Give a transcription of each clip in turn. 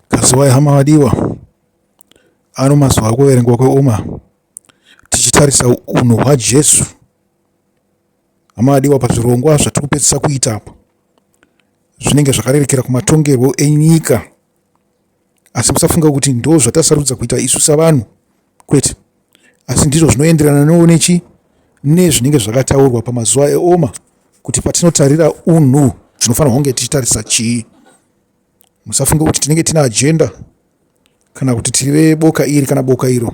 Kazuwai hama vadiwa, ano mazuva kuverengwa kweoma tichitarisa unhu hwaJesu. Hama vadiwa, pazvirongwa zvatiri kupedzisa kuita apa zvinenge zvakarerekera kumatongerwo enyika, asi musafunga kuti ndo zvatasarudza kuita isu savanhu. Kwete, asi ndizvo zvinoenderana noune chi nezvinenge zvakataurwa pamazuva eoma kuti patinotarira unhu tinofanirwa kunge tichitarisa chii musafunge kuti tinenge tine ajenda kana kuti tiri veboka iri kana boka iro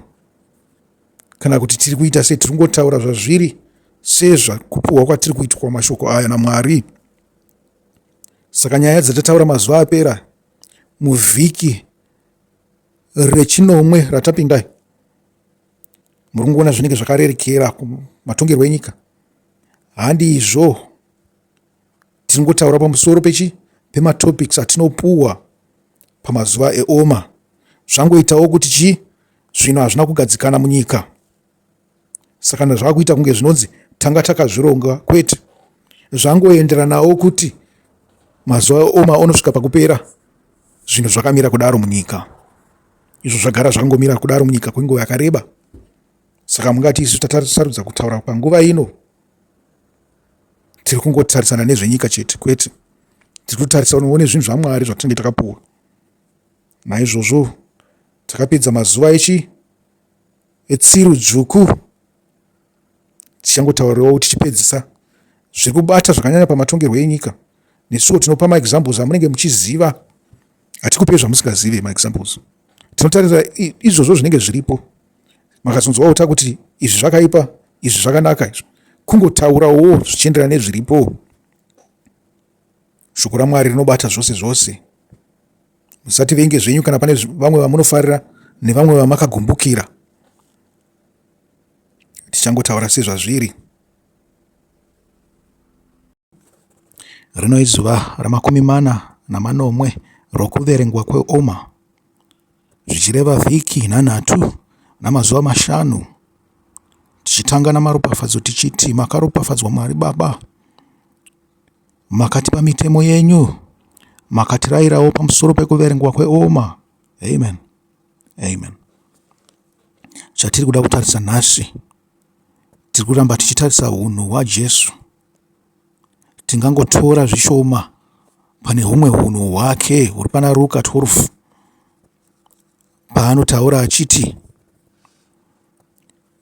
kana kuti tiri kuita sei tiri kungotaura zvazviri sezvakupiwa kwatiri kuitwa mashoko aya namwari saka nyaya dzatataura mazuva apera muvhiki rechinomwe ratapinda iri muri kungoona zvinenge zvakarerekera matongerwo enyika handizvo tiri ngotaura pamusoro pechi pematopics atinopuwa pamazuva eoma zvangoitawo kuti chii zvinhu hazvina kugadzikana munyika saka ndazvakuita kunge zvinonzi tanga takazvironga kwete zvangoenderanawo kuti mazuva oma onosvika pakupera zvinhu zvakamira kudaro munyika izvo zvagara zvakangomira kudaro munyika kwenguva yakareba saka mungati isu tatasarudza kutaura panguva ino tiri kungotarisana nezvenyika chete kwete tiri kutarisanawo nezvinhu zvamwari zvatinenge takapuwa naizvozvo takapedza mazuva echi etsiru dzvuku tichangotaurawo tichipedzisa zviri kubata zvakanyanya pamatongerwo enyika nesuwo tinopa maexamples amunenge muchiziva hatikupei zvamusingazive maexamples tinotarira izvozvo zvinenge zviripo makazonzwawo ta kuti izvi zvakaipa izvi zvakanaka izvo kungotaurawo zvichienderana nezviripo Shoko raMwari rinobata zvose zvose. Musativenge zvenyu kana pane vamwe vamunofarira nevamwe vamakagumbukira. Tichangotaura sezvazviri. Rino izuva ramakumi mana namanomwe rokuverengwa kweOma, zvichireva vhiki nhanhatu namazuva mashanu, tichitanga namaropafadzo tichiti, Makaropafadzwa Mwari Baba. Makatipa mitemo yenyu, makatirayirawo pamusoro pekuverengwa kweoma. Amen. Amen. Chatiri kuda kutarisa nhasi, tiri kuramba tichitarisa unhu hwaJesu. Tingangotora zvishoma pane humwe hunhu hwake huri pana Ruka 12 paanotaura achiti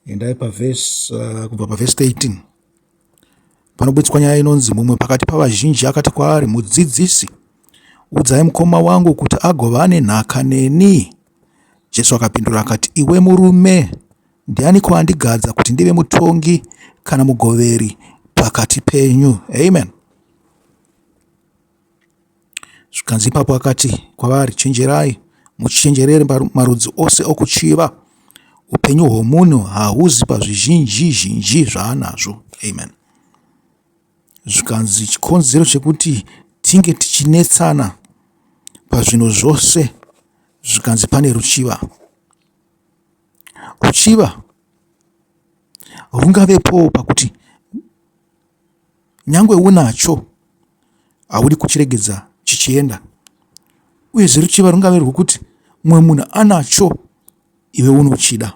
endai pavhesi uh, kubva pavhesi 13 panobuditswa nyaya inonzi mumwe pakati pavazhinji akati kwaari mudzidzisi udzai mukoma wangu kuti agova ane nhaka neni jesu akapindura akati iwe murume ndiani kwaandigadza kuti ndive mutongi kana mugoveri pakati penyu amen Zvikanzi ipapo akati kwavari, Chenjerai, muchenjerere marudzi ose okuchiva. Upenyu hwomunhu hahuzi pazvizhinji zhinji zvaanazvo. Amen. Zvikanzi chikonzero chekuti tinge tichinetsana pazvinhu zvose zvikanzi pane ruchiva. Ruchiva rungavepowo pakuti Nyangwe unacho, haudi kuchiregedza chichienda. Uyezve ruchiva rungave rwokuti mumwe munhu anacho iwe unochida.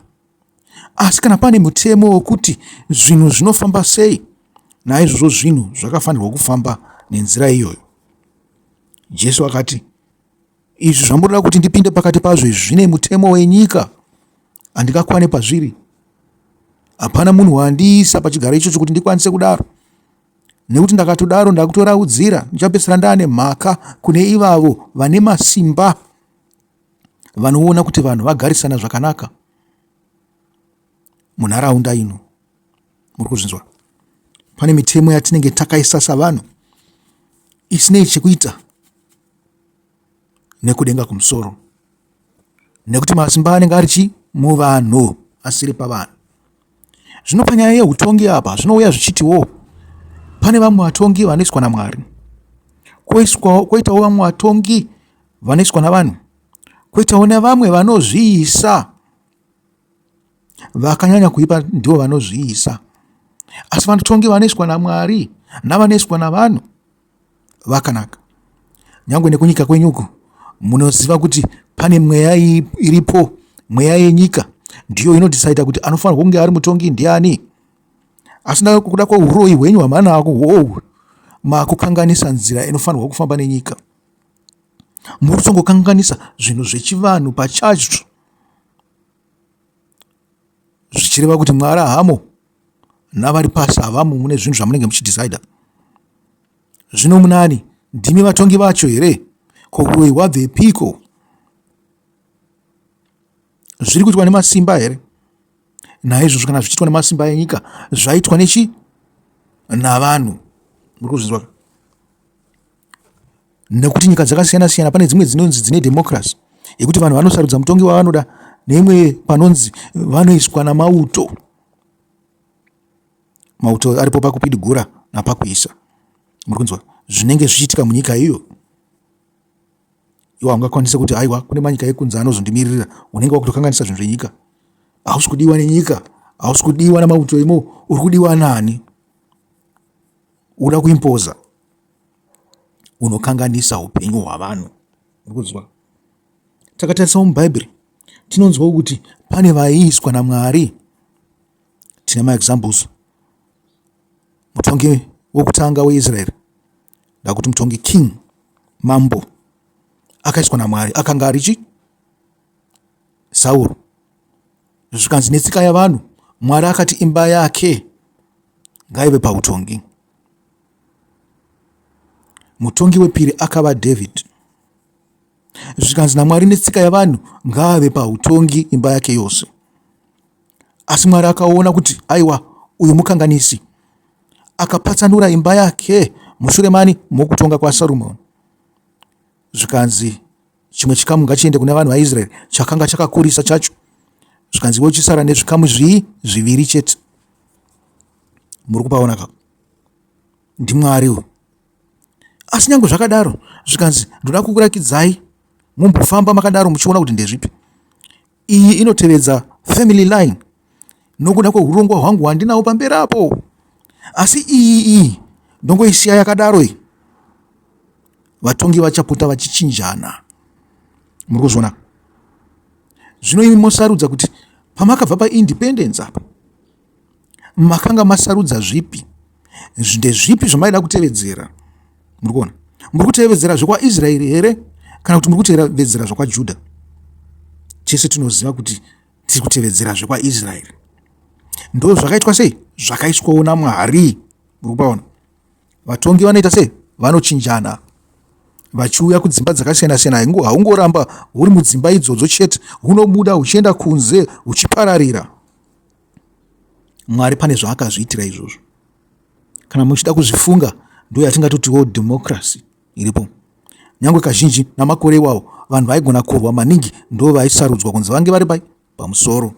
Asi kana pane mutemo wokuti zvinhu zvinofamba sei, naizvozvo zvinhu zvakafanirwa kufamba nenzira iyoyo. Jesu akati, Izvi zvamurira kuti ndipinde pakati pazvo izvi zvine mutemo wenyika handingakwane pazviri hapana munhu wandiisa pachigaro ichocho kuti ndikwanise kudaro nekuti ndakatodaro ndakutoraudzira ndichapesera ndaane mhaka kune ivavo vane masimba vanoona kuti vanhu vagarisana zvakanaka munharaunda ino muri kuzvinzwa pane mitemo yatinenge takaisa savanhu isinei chekuita nekudenga kumusoro nekuti masimba anenge ari chi muvanhu asiri pavanhu zvino panyaya yeutongi apa zvinouya zvichitiwo pane vamwe vatongi vanoiswa namwari koitawo vamwe vatongi vanoiswa navanhu koitawo nevamwe vanozviisa vakanyanya kuipa ndivo vanozviisa asi vanotongi vanoiswa namwari navanoiswa navanhu vakanaka. Nyangwe nekunyika kwenyu uku munoziva kuti pane mweya iripo, mweya yenyika ndiyo inodhisaidha kuti anofanirwa kunge ari mutongi ndiani. Asi kuda kweuroyi hwenyu hwamanako hwohwu makukanganisa nzira inofanirwa kufamba nenyika. Muri kutongokanganisa zvinhu zvechivanhu pachacho zvichireva kuti mwaarahamo. navari pasi havamo mune zvinhu zvamunenge muchidhicider zvino munani ndimi vatongi vacho here ko uroyi hwabvepiko zviri kuitwa nemasimba here naizvozvo kana zvichiitwa nemasimba enyika zvaitwa nechi navanhu muri kuzvinzwa nekuti nyika dzakasiyana siyana pane dzimwe dzinonzi dzine democracy yekuti vanhu vanosarudza mutongi wavanoda neimwe panonzi vanoiswa namauto mauto aripo pakupidigura napakuisa muri kunzwa zvinenge zvichiitika munyika iyo iwo haungakwanise kuti aiwa kune manyika ekunze anozondimiririra unenge wakutokanganisa zvinhu zvenyika hausi kudiwa nenyika hausi kudiwa namauto imo uri kudiwa nani uda kuimpoza unokanganisa upenyu hwavanhu uri kunzwa Takatarisawo muBhaibheri tinonzwawo kuti pane vaiiswa naMwari. Tine maexamples. Mutongi wokutanga weIsraeri, ndakuti mutongi king, mambo, akaiswa naMwari. Akanga ari chi? Sauro. Zvikanzi netsika yavanhu, Mwari akati imba yake ngaive pautongi. Mutongi wepiri akava David. zvikanzi naMwari netsika yavanhu ngaave pautongi imba yake yose. Asi Mwari akaona kuti aiwa uyu mukanganisi, akapatsanura imba yake mushure mani mokutonga kwaSarumoni. Zvikanzi chimwe chikamu ngachiende kuna vanhu vaIsraeri chakanga chakakurisa chacho, zvikanzi iwe chisara nezvikamu zvii zviviri chete. Muri kupaona ka? NdiMwari uyu. Asi nyange zvakadaro zvikanzi ndoda kukurakidzai mumbofamba makadaro muchiona kuti ndezvipi. Iyi inotevedza family line nokuda kwehurongwa hwangu hwandinawo pamberi apo. Asi iyi iyi ndongoisiya yakadaro iyi. Vatongi vachapota vachichinjana. Muri kuzviona? Zvino imi mosarudza kuti pamakabva paindependence apa makanga masarudza zvipi ndezvipi zvamaida kutevedzera muri kuona muri kutevedzera zvekwaisraeri here kana kuti muri kutevedzera zvekwajuda tese tinoziva kuti tiri kutevedzera zvekwaisraeri ndo zvakaitwa sei zvakaiswawo namwari muri kupaona vatongi vanoita sei vanochinjana vachiuya kudzimba dzakasiyana-siyana haungoramba huri mudzimba idzodzo chete hunobuda huchienda kunze huchipararira mwari pane zvaakazviitira izvozvo kana muchida kuzvifunga ndo yatingatotiwo democracy iripo nyange kazhinji namakore iwawo vanhu vaigona kurwa maningi ndo vaisarudzwa kunzi vange vari pai pamusoro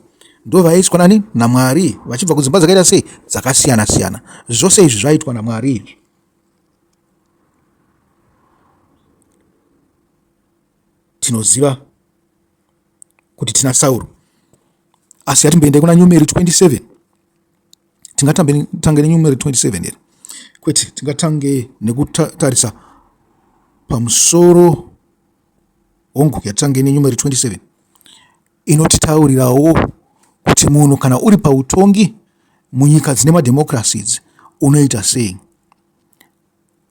ndo vaiiswa nani namwari vachibva kudzimba dzakaita sei dzakasiyana siyana zvose izvi zvaiitwa namwari izvi tinoziva kuti tina sauro asi yatimboendai kuna nyumeri 27 tingatange nenyumeri 27 here kwete tingatange nekutarisa pamusoro hongu yatange nenyumeri 27 inotitaurirawo kuti munhu kana uri pautongi munyika dzine mademokirasi idzi unoita sei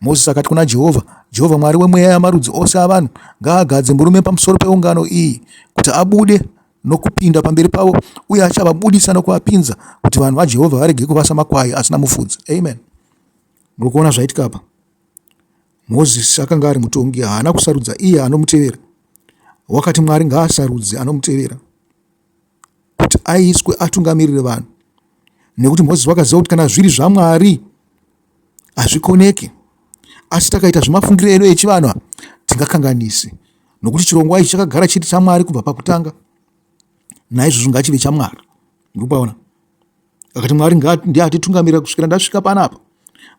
Mozisi akati kuna Jehovha, Jehovha Mwari wemweya yamarudzi ose avanhu, ngaagadze murume pamusoro peungano iyi kuti abude nokupinda pamberi pavo, uye achavabudisa nokuvapinza kuti vanhu vaJehovha varege kuva samakwai asina mufudzi. Amen. Muri kuona zvaitika apa? Mozisi akanga ari mutongi, haana kusarudza iye anomutevera. Wakati Mwari ngaasarudze anomutevera kuti aiswe atungamirire vanhu, nekuti Mozisi wakaziva kuti kana zviri zvaMwari hazvikoneki. Asi takaita zvemafungiro edu echivanhu hatingakanganisi, nokuti chirongwa ichi chakagara chiri chaMwari kubva pakutanga, naizvozvo ngachive chaMwari. Ndikupaona akati Mwari ndiye atitungamirira kusvikira ndasvika panapa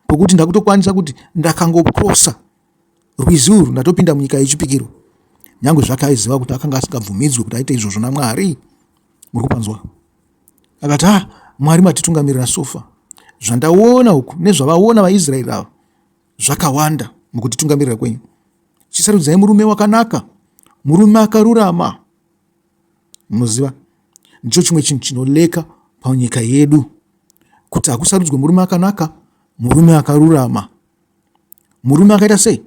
pokuti ndakutokwanisa kuti ndakangokrosa Rwizi urwu ndatopinda munyika yechipikirwa. Nyangwe zvake aiziva kuti akanga asingabvumidzwe kuti aite izvozvo naMwari. Muri kupanzwa? Akati, ah, Mwari matitungamirira sofa. Zvandaona uku nezvavaona vaIsraeri ava zvakawanda mukutitungamirira kwenyu. Chisarudzai murume wakanaka, murume akarurama. Munoziva, ndicho chimwe chinhu chinoleka panyika yedu kuti hakusarudzwe murume akanaka, murume akarurama. murume akaita sei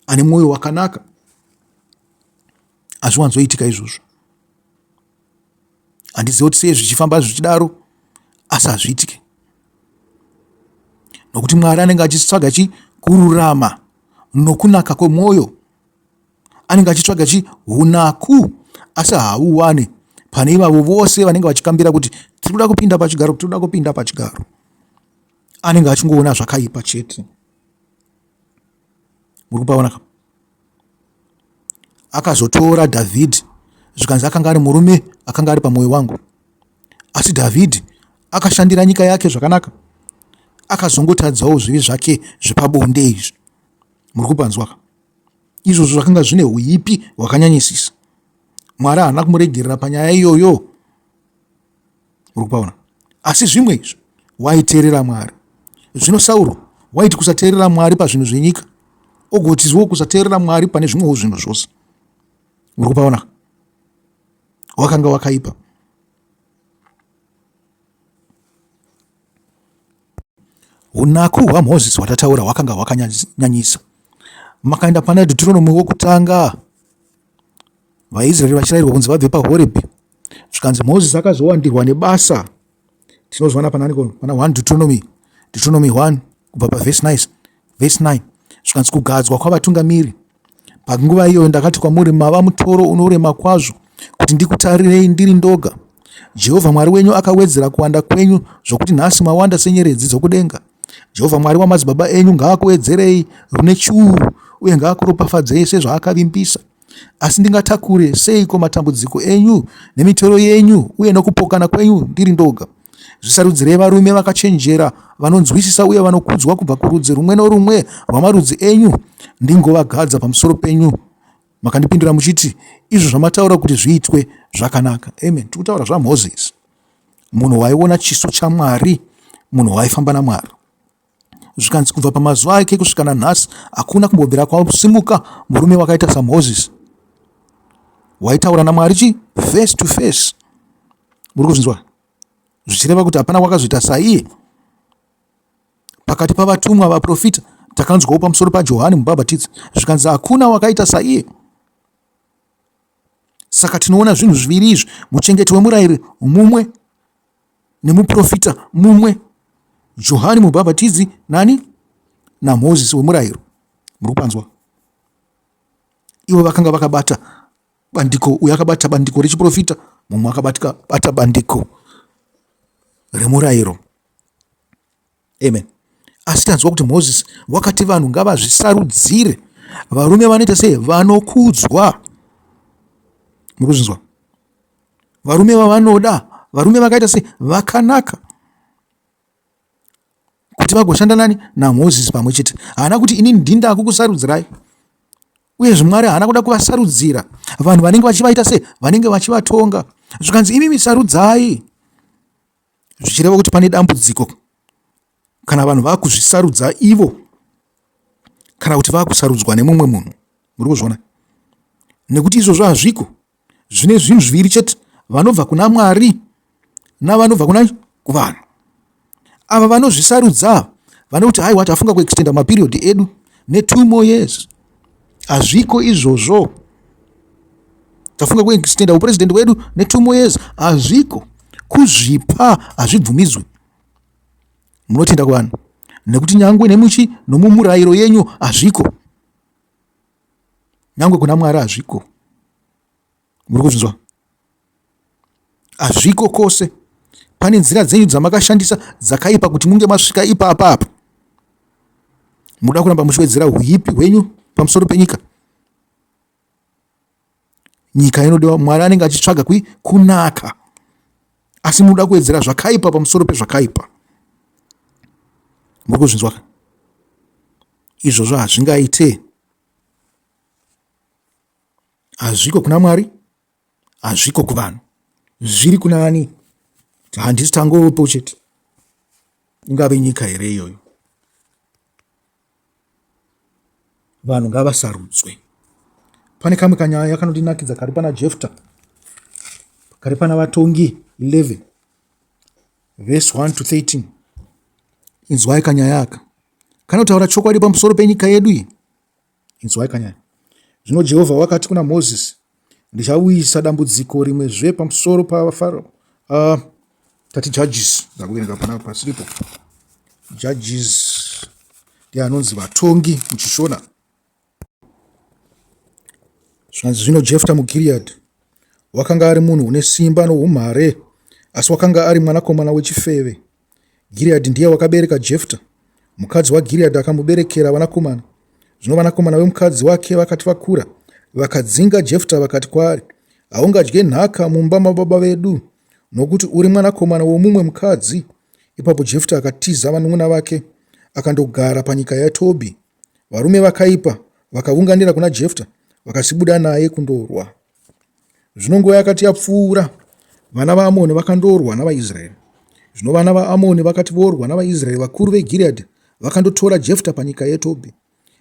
ane mwoyo wakanaka hazviwanzoitika izvozvo handiziva kuti sei zvichifamba zvichidaro asi hazviitike nokuti mwari anenge achitsvaga chi kururama nokunaka kwemwoyo anenge achitsvaga chi unaku asi hauwane pane ivavo vose vanenge vachikambira kuti tiri kuda kupinda pachigaro tiri kuda kupinda pachigaro anenge achingoona zvakaipa chete muri kupaona ka akazotora dhavhidhi zvikanzi akanga ari murume akanga ari pamwoyo wangu asi dhavhidhi akashandira nyika yake zvakanaka akazongotadzawo zvivi zvake zvepabonde izvi muri kupanzwa ka izvozvo zvakanga zvine uipi hwakanyanyisisa mwari haana kumuregerera panyaya iyoyo uri kupaona asi zvimwe izvo waiteerera mwari zvino sauro waiti kusateerera mwari pazvinhu zvenyika ogotizwo kusateerera mwari pane zvimwewo zvinhu zvose uri kupaona wakanga wakaipa unaku hwamozisi hwatataura hwakanga hwakanyanyisa makaenda pana deuteronomy wokutanga VaIsraeri vachirayirwa kunzi vabve paHorebhi, zvikanzi Moses akazowandirwa nebasa. Tinozwana panani pana 1 Deuteronomy, Deuteronomy 1 kubva paverse 9, verse 9 zvikanzi kugadzwa kwavatungamiri. Panguva iyoyo ndakati kwamuri, mava mutoro unorema kwazvo kuti ndikutarirei ndiri ndoga. Jehovha Mwari wenyu akawedzera kuwanda kwenyu zvokuti nhasi mawanda senyeredzi dzokudenga. Jehovha Mwari wamadzibaba enyu ngaakuedzerei rune churu uye ngaakuropafadzei sezvaakavimbisa. Asi ndingatakure seiko matambudziko enyu nemitoro yenyu uye nokupokana kwenyu ndiri ndoga? Zvisarudzirei varume vakachenjera vanonzwisisa uye vanokudzwa kubva kurudzi rumwe norumwe rwamarudzi enyu, ndingovagadza pamusoro penyu. Makandipindura muchiti, Izvo zvamataura kuti zviitwe zvakanaka. Amen. Tiri kutaura zvaMozisi. munhu waiona chiso chamwari munhu waifamba namwari zvikanzi kubva pamazuva ake kusvika nanhasi hakuna kumbobvira kwasimuka murume wakaita samoses waitaura namwari chi face to face muri kuzvinzwa zvichireva kuti hapana wakazoita saiye pakati pavatumwa vaprofita takanzwawo pamusoro pajohani mubhabhatidzi zvikanzi hakuna wakaita saiye Saka tinoona zvinhu zviviri izvi, muchengeti wemurayiro mumwe nemuprofita mumwe, Johani Mubhabhatidzi nani naMozisi wemurayiro. Muri kupanzwa? Ivo vakanga vakabata bandiko, uyo akabata bandiko rechiprofita, mumwe akabata bandiko remurayiro. amen asi tanzwa kuti mozisi wakati vanhu ngavazvisarudzire varume vanoita sei vanokudzwa muri kuzvinzwa varume vavanoda varume vakaita sei vakanaka kuti vagoshanda nani namozisi pamwe chete haana kuti inini ndindakukusarudzirai uye zvimwari haana kuda kuvasarudzira vanhu vanenge vachivaita sei vanenge vachivatonga zvikanzi imi misarudzai zvichireva kuti pane dambudziko kana vanhu vakuzvisarudza ivo kana kuti vakusarudzwa nemumwe munhu muri kuzviona nekuti izvozvo hazviko zvine zvinhu zviviri chete vanobva kuna mwari navanobva kuna kuvanhu ava vanozvisarudza vane kuti haiwa tafunga kuextenda maperiod edu netwo more years hazviko izvozvo tafunga kuextenda upresident wedu netwo more years hazviko kuzvipa hazvibvumidzwe munotenda kuvanhu nekuti nyangwe nemuchi nomumurayiro yenyu hazviko nyangwe kuna mwari hazviko Muri kuzvinzwa? Hazviko kose. Pane nzira dzenyu dzamakashandisa dzakaipa kuti munge masvika ipapa apa. Muda kuramba muchiwedzera huipi hwenyu pamusoro penyika. Nyika inodiwa Mwari anenge achitsvaga kui kunaka. Asi muda kuwedzera zvakaipa pamusoro pezvakaipa. Muri kuzvinzwa? Izvozvo hazvingaite. Hazviko kuna Mwari, hazviko kuvanhu. Zviri kuna ani? Handisi tangovepo chete. Ingave nyika here iyoyo? Vanhu ngavasarudzwe. Pane kamwe kanyaya kanondinakidza kari pana Jefta, kari pana vatongi 11 vhesi 1 to 13 inzwai kanyaya aka kanotaura chokwadi pamusoro penyika yedu iyi Inzwai kanyari. Zvino Jehovha wakati kuna Mozisi, Ndichauyisa dambudziko rimwezve pamusoro paFaro. Uh, tati judges ndakuverenga pana pasiripo judges ndiye anonzi vatongi muchishona zvanzi zvino jefta mugiriyadhi wakanga ari munhu une simba noumhare asi wakanga ari mwanakomana wechifeve Gireadhi ndiye wakabereka Jefta. Mukadzi waGireadhi akamuberekera vanakomana. Zvino vanakomana vemukadzi wake vakati vakura, vakadzinga Jefta vakati kwaari, Haungadye nhaka mumba mababa vedu, nokuti uri mwanakomana womumwe mukadzi. Ipapo Jefta akatiza vanun'una vake akandogara panyika yaTobhi. Varume vakaipa vakavunganira kuna Jefta vakasibuda naye kundorwa. Zvino nguva yakati yapfuura, vana vaAmoni vakandorwa navaIsraeri. Zvino vana vaAmoni vakati vorwa navaIsraeri, vakuru veGireadhi vakandotora Jefta panyika yeTobhi.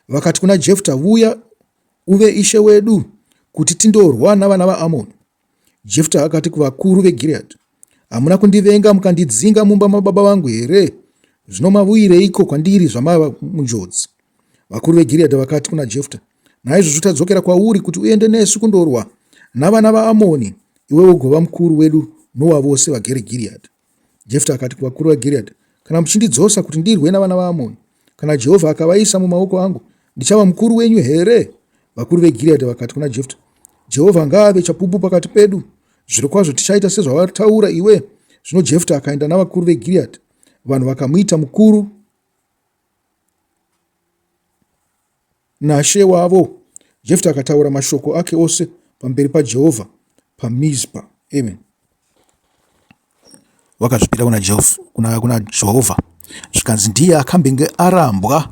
Vakati kuna Jefta, Vuya uve ishe wedu, kuti tindorwa navana vaAmoni. Jefta akati kuvakuru veGireadhi, Hamuna kundivenga mukandidzinga mumba mababa vangu here? Zvino mavuyireiko kwandiri zvamava munjodzi? Vakuru veGiriyadhi vakati kuna Jefta, Naizvozvo tadzokera kwauri kuti uende nesu kundorwa navana vaAmoni, iwe ugova mukuru wedu nowavose vagere Giriyadhi. Jefta akati kuvakuru veGiriyadhi, Kana muchindidzosa kuti ndirwe navana vaAmoni, Kana Jehovha akavaisa mumaoko angu, ndichava mukuru wenyu here? Vakuru veGiriyadhi vakati kuna Jefta, Jehovha ngaave chapupu pakati pedu. Zvirokwazvo tichaita sezvawataura iwe. Zvino Jefta akaenda navakuru veGiriyadhi, vanhu vakamuita mukuru. Nashe wavo. Jefta akataura mashoko ake ose pamberi paJehovha paMizpa. Amen. Wakazvipira kuna Jehovha, kuna, kuna Jehovha zvikanzi ndiye akambenge arambwa,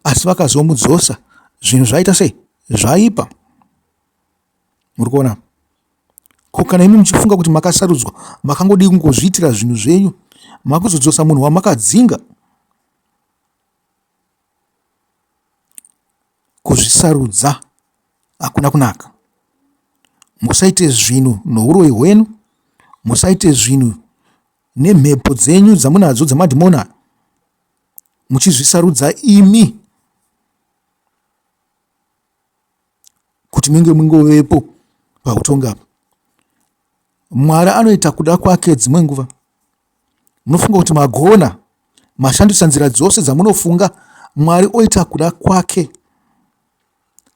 asi vakazomudzosa. Zvinhu zvaita sei? Zvaipa. Muri kuona? Ko kana imi muchifunga kuti makasarudzwa, makangodii kungozviitira zvinhu zvenyu, makuzodzosa munhu wamakadzinga? Kuzvisarudza hakuna kunaka. Musaite zvinhu nouroyi hwenyu. Musaite zvinhu nemhepo dzenyu dzamunadzo dzemadhimoni aya muchizvisarudza imi kuti munge mungovepo pahutongi apa. Mwari anoita kuda kwake dzimwe nguva. Munofunga kuti magona, mashandisa nzira dzose dzamunofunga, Mwari oita kuda kwake.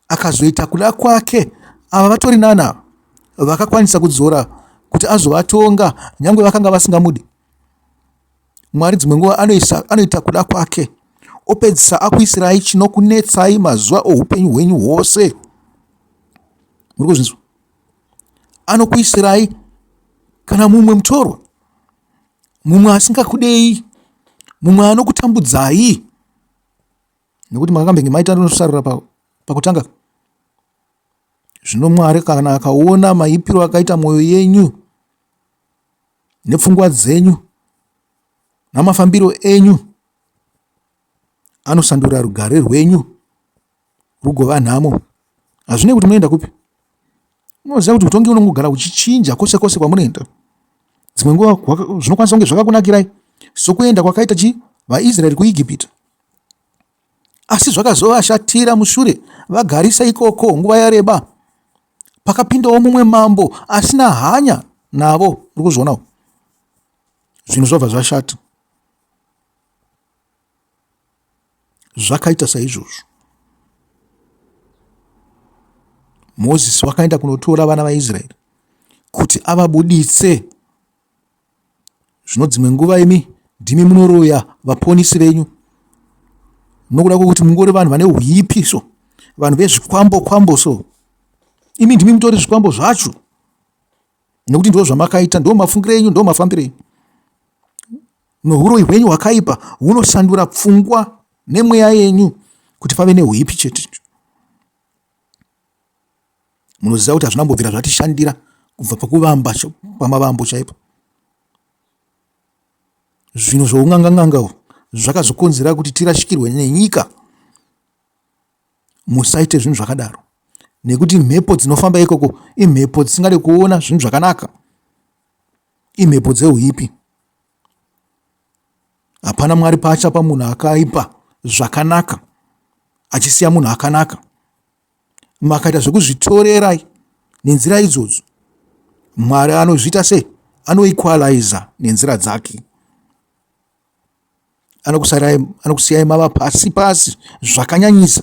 Akazoita kuda kwake, ava vatori nani ava vakakwanisa kudzora kuti azovatonga nyange vakanga vasingamudi? Mwari dzimwe nguva anoisa, anoita kuda kwake opedzisa akuisirai chinokunetsai mazuva oupenyu hwenyu hwose. Muri kuzvinzwa? anokuisirai kana mumwe mutorwa mumwe asingakudei mumwe anokutambudzai nekuti makambenge maita nosarura pakutanga zvino mwari kana akaona maipiro akaita mwoyo yenyu nepfungwa dzenyu namafambiro enyu anosandura rugare rwenyu rugova nhamo hazvinei kuti munoenda kupi unoziva kuti utongi unongogara uchichinja kwose kwose kwamunoenda dzimwe nguva zvinokwanisa kunge zvakakunakirai sokuenda kwakaita chi vaisraeri kuigipita asi zvakazovashatira mushure vagarisa ikoko nguva yareba pakapindawo mumwe mambo asina hanya navo uri kuzvionawo zvinhu zvobva zvashata zvakaita saizvozvo mozisi wakaenda kunotora vana vaisraeri kuti avabuditse zvino dzimwe nguva imi ndimi munoroya vaponisi venyu nokuda kwekuti mungori vanhu vane uipiso vanhu vezvikwambo kwambo so imi ndimi mutori zvikwambo zvacho nekuti ndo zvamakaita ndo mafungiro enyu ndo mafambiro enyu Nohuroyi hwenyu hwakaipa hunosandura pfungwa nemweya yenyu kuti pave neuipi chete. Munoziva kuti hazvina kumbobvira zvatishandira kubva pakuvamba pamavambo chaipo. Zvinhu zvounganganganga uhwu zvakazokonzera kuti tirashikirwe nenyika. Musaite zvinhu zvakadaro nekuti mhepo dzinofamba ikoko imhepo dzisingade kuona zvinhu zvakanaka, imhepo dzeuipi. Hapana Mwari paachapa munhu akaipa zvakanaka achisiya munhu akanaka. Makaita zvekuzvitorerai nenzira idzodzo. Mwari anozviita sei? Anoequaliza nenzira dzake. Anokusiyai mava pasi pasi zvakanyanyisa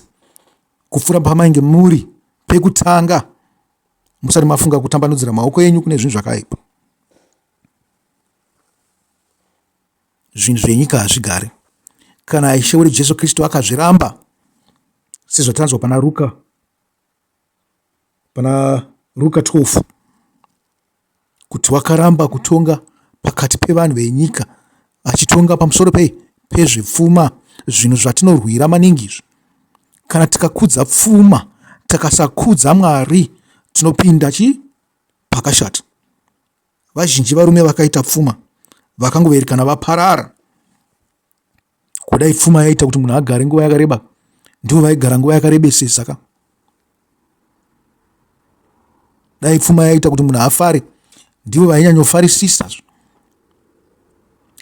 kupfuura pamainge muri pekutanga musati mafunga kutambanudzira maoko enyu kune zvinhu zvakaipa. zvinhu zvenyika hazvigari kana ishe wedu jesu kristu akazviramba sezvatanzwa pana ruka pana ruka 12 kuti wakaramba kutonga pakati pevanhu venyika achitonga pamusoro pei pezvepfuma zvinhu zvatinorwira maningi izvi kana tikakudza pfuma takasakudza mwari tinopinda chi pakashata vazhinji varume vakaita pfuma vakangoverekana vaparara kudai pfuma yaita kuti munhu agare nguva yakareba ndivo vaigara nguva yakarebesesa ka dai pfuma yaita kuti munhu afare ndivo vainyanyofarisisa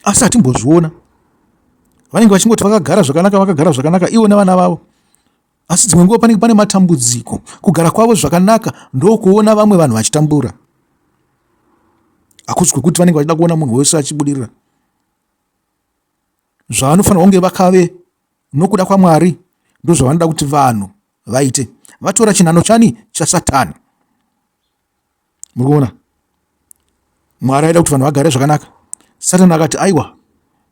asi hatimbozviona vanenge vachingoti vakagara zvakanaka vakagara zvakanaka ivo nevana vavo Asi dzimwe nguva panenge pane matambudziko. Kugara kwavo zvakanaka ndokuona vamwe vanhu vachitambura. Hakusi kwekuti vanenge vachida kuona munhu wese achibudirira. Zvavanofanirwa kunge vakave nokuda kwaMwari ndozvavanoda kuti vanhu vaite. Vatora chinhano chani? ChaSatani. muri kuona mwari aida kuti vanhu vagare zvakanaka satani akati aiwa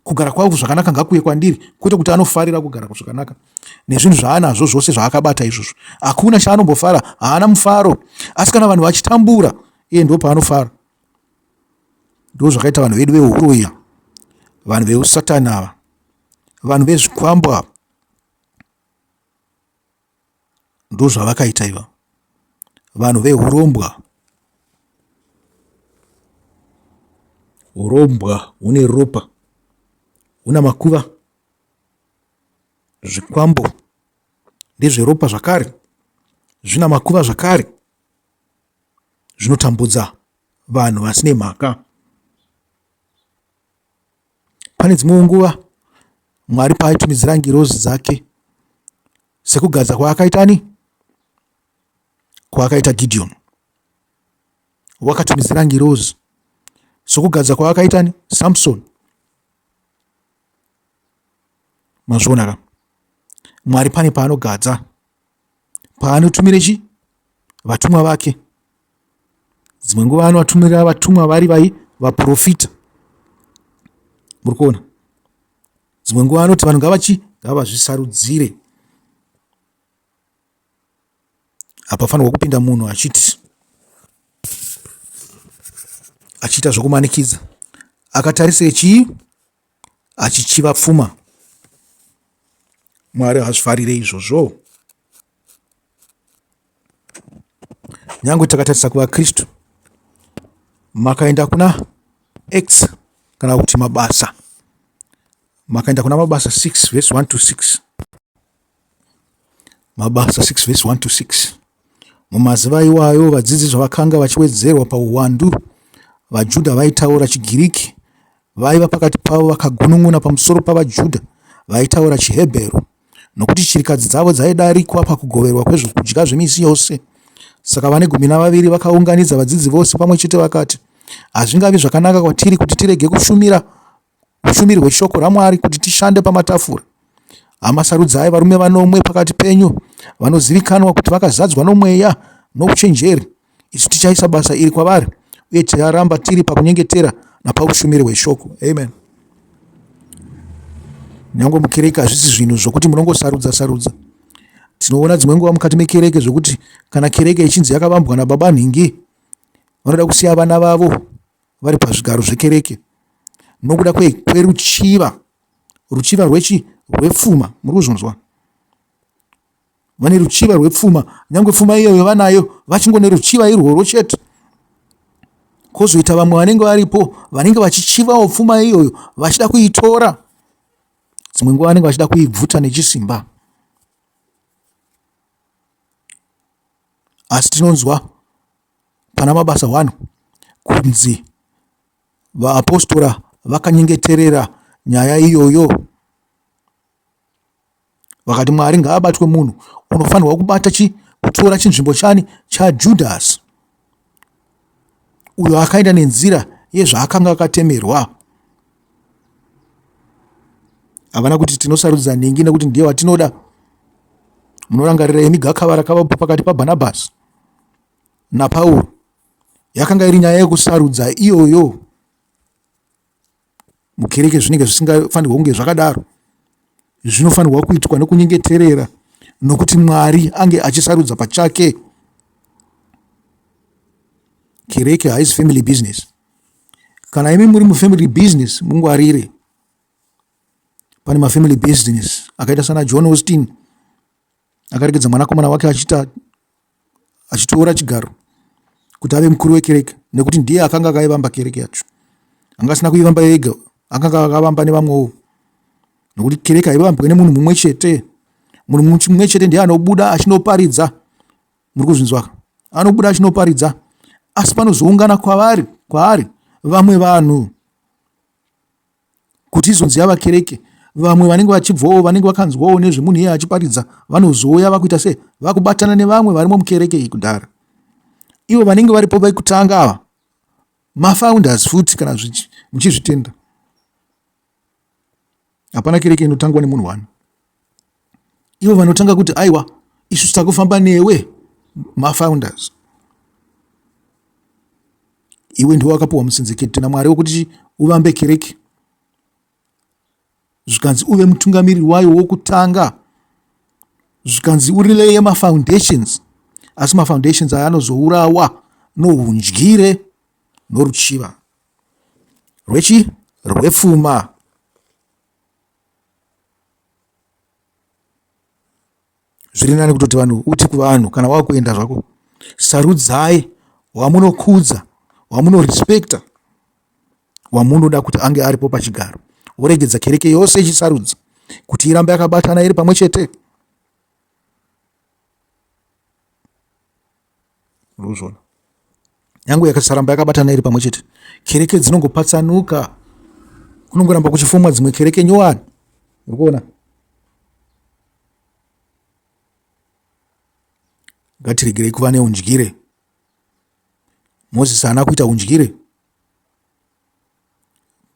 kugara kwavo zvakanaka ngakuye kwandiri kwete kuti anofarira kugara zvakanaka nezvinhu zvaanazvo zvose zvaakabata izvozvo hakuna chaanombofara haana mufaro asi kana vanhu vachitambura iye ndo paanofara ndo zvakaita vanhu vedu veuroya vanhu veusatani ava vanhu vezvikwambo ava Ndozvavakaita iva vanhu vehurombwa. Hurombwa hune ropa, huna makuva, zvikwambo ndezveropa zvakare, zvina makuva zvakare, zvinotambudza vanhu vasine mhaka. Pane dzimwewo nguva Mwari paaitumidzira ngirozi dzake sekugadza kwaakaita ani? Kwaakaita Gideon. Wakatumidzira ngirozi sokugadza kwaakaita ani? Samson. Mazvionaka. Mwari pane paanogadza paanotumira chi vatumwa vake dzimwe nguva anovatumira vatumwa vari vai vaprofita muri kuona dzimwe nguva anoti vanhu ngavachi ngavazvisarudzire hapafanirwa kupinda munhu achiti achiita zvokumanikidza akatarisei chii achichiva pfuma mwari hazvifarire izvozvo nyange takatarisa kuvakristu makaenda kuna x kana kuti mabasa makaenda kuna mabasa 6 vhesi 1 to 6 Mabasa 6 vhesi 1 to 6 Mumazuva iwayo vadzidzi zvavakanga vachiwedzerwa pauwandu, vaJudha vaitaura chiGiriki vaiva pakati pavo vakagunun'una pamusoro pavaJudha vaitaura chiHebheru, nokuti chirikadzi dzavo dzaidarikwa pakugoverwa kwezvokudya zvemisi yose. Saka vane gumi navaviri vakaunganidza vadzidzi vose pamwe chete vakati, Hazvingavi zvakanaka kwatiri kuti tirege kushumira Ushumiri hweshoko raMwari kuti tishande pamatafura. Hama, sarudzai varume vanomwe pakati penyu vanozivikanwa kuti vakazadzwa nomweya nouchenjeri. Isu tichaisa basa iri kwavari uye ticharamba tiri pakunyengetera napaushumiri hweshoko. Amen. Nyange mukereke hazvisi zvinhu zvokuti munongosarudza sarudza. Tinoona dzimwe nguva mukati mekereke zvokuti kana kereke ichinzi yakavambwa nababa nhingi vanoda kusiya vana vavo vari pazvigaro zvekereke nokuda kwei kweruchiva ruchiva rwechi rwepfuma muri kuzvinzwa vane ruchiva rwepfuma nyange pfuma iyoyo vanayo vachingone ruchiva irworwo chete kozoita vamwe vanenge varipo vanenge vachichivawo pfuma iyoyo vachida kuitora dzimwe nguva vanenge vachida kuibvuta nechisimba asi tinonzwa pana Mabasa One kunzi vaapostora vakanyengeterera nyaya iyoyo vakati Mwari ngaabatwe munhu unofanirwa kubata chi kutora chinzvimbo chani chaJudhasi uyo akaenda nenzira yezvaakanga akatemerwa havana kuti tinosarudza nhingi nekuti ndiye watinoda munorangarira imi gakava rakavapo pakati pabhanabhasi naPauro yakanga iri nyaya yekusarudza iyoyo mukereke zvinenge zvisingafanirwa kunge zvakadaro zvinofanirwa kuitwa nokunyengeterera nokuti mwari ange achisarudza pachake kereke haisi family business kana imi muri mufamily business mungwarire pane mafamily business akaita sana john austin akaregedza mwanakomana wake achiita achitora chigaro kuti ave mukuru wekereke nekuti ndiye akanga akaivamba kereke yacho. Anga asina kuivamba ega, akanga akavamba nevamwewo nokuti kereke haivambwe nemunhu mumwe chete. Munhu mumwe chete ndiye anobuda achinoparidza, muri kuzvinzwaka, anobuda achinoparidza, asi panozoungana kwavari kwaari vamwe vanhu Kuti izonzi yava kereke vamwe vanenge vachibvawo vanenge vakanzwawo nezvemunhu iye achiparidza vanozouya vakuita se vakubatana nevamwe varimo mukereke iyi kudhara ivo vanenge varipo vekutanga ava mafounders futi kana muchizvitenda hapana kereke inotangwa nemunhu one ivo vanotanga kuti aiwa isu takufamba newe mafounders iwe ndiwe wakapiwa musinzikiti namwari wokuti uvambe kereke zvikanzi uve mutungamiri wayo wokutanga zvikanzi urileye mafoundations asi mafoundations aya anozourawa noundyire noruchiva rwechi rwepfuma zviri nani kutoti vanhu uti kuvanhu kana wakuenda zvako sarudzai wamunokudza wamunorespecta wamunoda kuti ange aripo pachigaro woregedza kereke yose ichisarudza kuti irambe yakabatana iri pamwe chete Murikuzviona? Yangu yakasaramba yakabatana iri pamwe chete. Kereke dzinongopatsanuka. Kunongoramba kuchifumwa dzimwe kereke nyowani. Murikuona? Ngatiregerei kuva neundyire. Mozisi haana kuita undyire.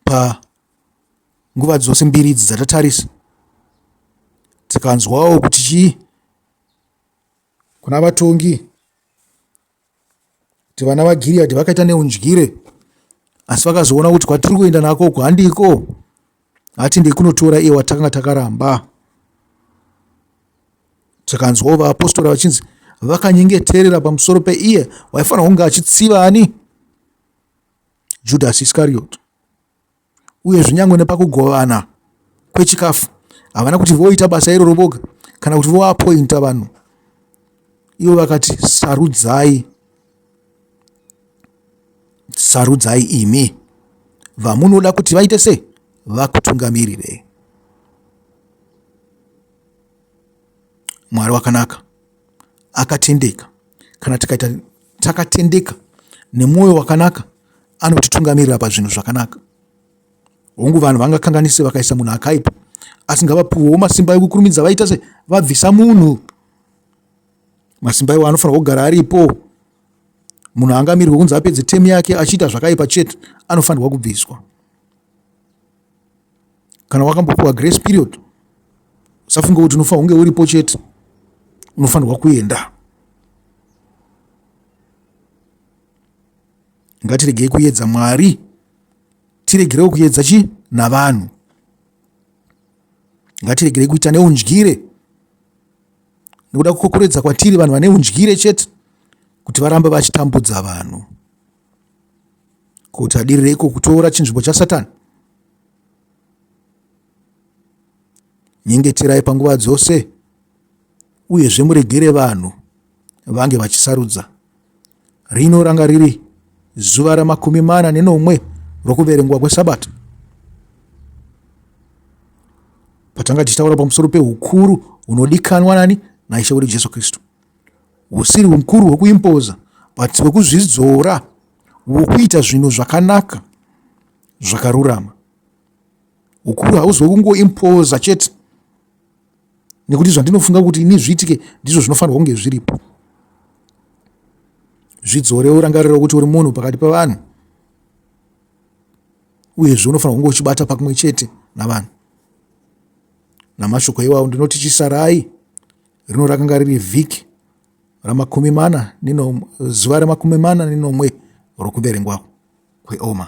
Pa nguva dzose mbiri idzi dzatatarisa tikanzwawo kuti chii kuna vatongi kuti vana vaGiriyadhi vakaita neundyire, asi vakazoona kuti kwatiri kuenda nako uku handiko, hati ndekunotora iye watakanga takaramba. Takanzwawo vaapostora vachinzi vakanyengeterera pamusoro peiye waifanira kunge achitsiva ani? Judhasi Iskarioti. uyezve nyange nepakugovana kwechikafu havana kuti voita basa iroro voga kana kuti voapointa vanhu ivo vakati sarudzai sarudzai imi vamunoda kuti vaite sei vakutungamirirei mwari wakanaka akatendeka kana tikaita takatendeka nemwoyo wakanaka anotitungamirira pazvinhu zvakanaka hongu vanhu vangakanganise vakaisa munhu akaipa asi ngavapiwewo masimba ekukurumidza vaita se vabvisa munhu masimba iwo anofanirwa kugara aripo munhu angamirwe kunzi apedze temu yake achiita zvakaipa chete anofanirwa kubviswa kana wakambopiwa grace period usafunge kuti unofanira kunge uripo chete unofanirwa kuenda ngatiregei kuyedza mwari tiregerewo kuyedza chi navanhu ngatiregerei kuita neundyire nekuda kukokoredza kwatiri vanhu vane undyire chete kuti varambe vachitambudza vanhu kuti adireiko kutora chinzvimbo chasatani nyengeterai panguva dzose uyezve muregere vanhu vange vachisarudza rino ranga riri zuva ramakumi mana nenomwe rokuverengwa kwesabata patanga tichitaura pamusoro peukuru hunodikanwa nani naishe wedu jesu kristu husiri hukuru hwekuimpoza but hwekuzvidzora hwekuita zvinhu zvakanaka zvakarurama ukuru hauzi wekungoimpoza chete nekuti zvandinofunga kuti ini zviitike ndizvo zvinofanirwa kunge zviripo zvidzore urangarira kuti uri munhu pakati pavanhu uyezve unofanira kunge uchibata pakumwe chete navanhu namashoko iwawo ndinoti chisarai rino rakanga riri vhiki ramakumi mana nenomwe zuva remakumi mana nenomwe rokuverengwa kweoma